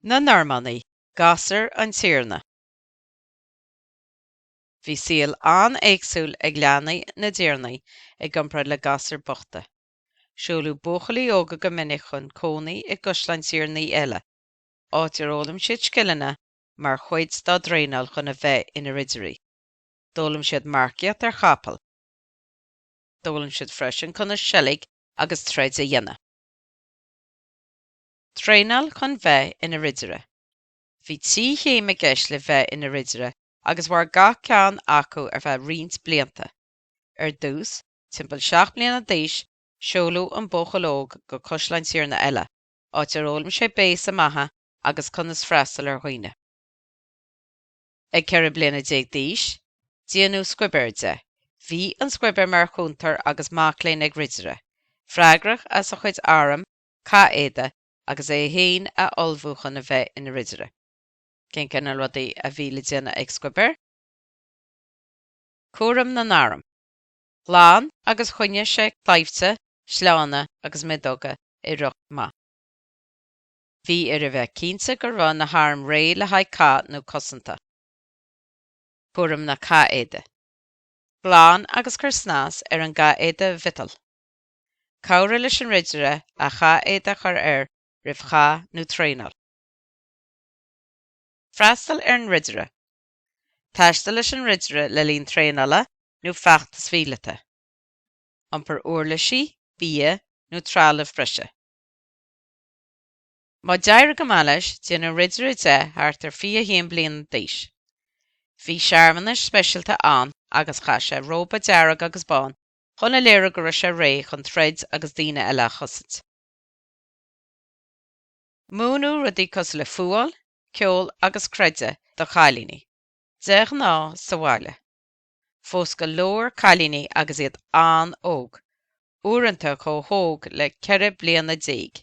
Na Normannaigh, Gasúir an Tiarna. Bhí saol an-éagsúil ag leanaí na dtiarnaí i gcomparáid le gasúir bhochta. Seoladh buachaillí óga go minic chun cónaí i gcaisleáin tiarnaí eile, áit ar fhoghlaim siad scileanna mar chuid dá dtraenáil chun a bheith ina ridirí. D'fhoghlaim siad marcaíocht ar chapaill. D'fhoghlaim siad freisin conas seilg agus troid a dhéanamh. Traenáil chun bheith ina Ridire. Bhí trí chéim i gceist le bheith ina Ridire agus mhair gach ceann acu ar feadh roinnt blianta. Ar dtús, timpeall seacht mbliana d'aois, seoladh an buachaill óg go caisleán tiarna eile, áit ar fhoghlaim sé béasa maithe agus conas freastal ar dhaoine. Ag ceithre bliana déag d'aois, déanadh scuibhéir de. Bhí an scuibhéir mar chúntóir agus mac léinn ag Ridire, freagrach as a chuid arm cathéide agus é féin a ullmhú chun a bheith ina ridire. Cén cineál rudaí a bhí le déanamh ag scuibhéir? Cúram na n-arm. Ghlan agus choinnigh sé claimhte, sleánna agus miodóga i riocht maith. Bhí air a bheith cinnte go raibh na hairm réidh le haghaidh cath nó cosanta. Cúram na cathéide. Glan agus cuir snas ar an gcathéide mhiotail. Cabhraigh leis an ridire a chathéide a chur air roimh chath nó traenáil. Freastal ar an ridire. Taistil leis an ridire le linn traenála nó feachtais mhíleata. Iompar uirlisí, bia nó trealamh breise. Má d'éirigh go maith leis, déanadh ridire de thart ar 21 bliana d'aois. Bhí searmanas speisialta ann agus chaith sé róba dearg agus bán chun a léiriú go raibh sé réidh chun troid agus daoine eile a chosaint. Múineadh rudaí cosúil le fuáil, ceol agus creideamh do chailíní, de ghnáth sa bhaile. Phós go leor cailíní agus iad an-óg, uaireanta chomh hóg le ceithre bliana déag.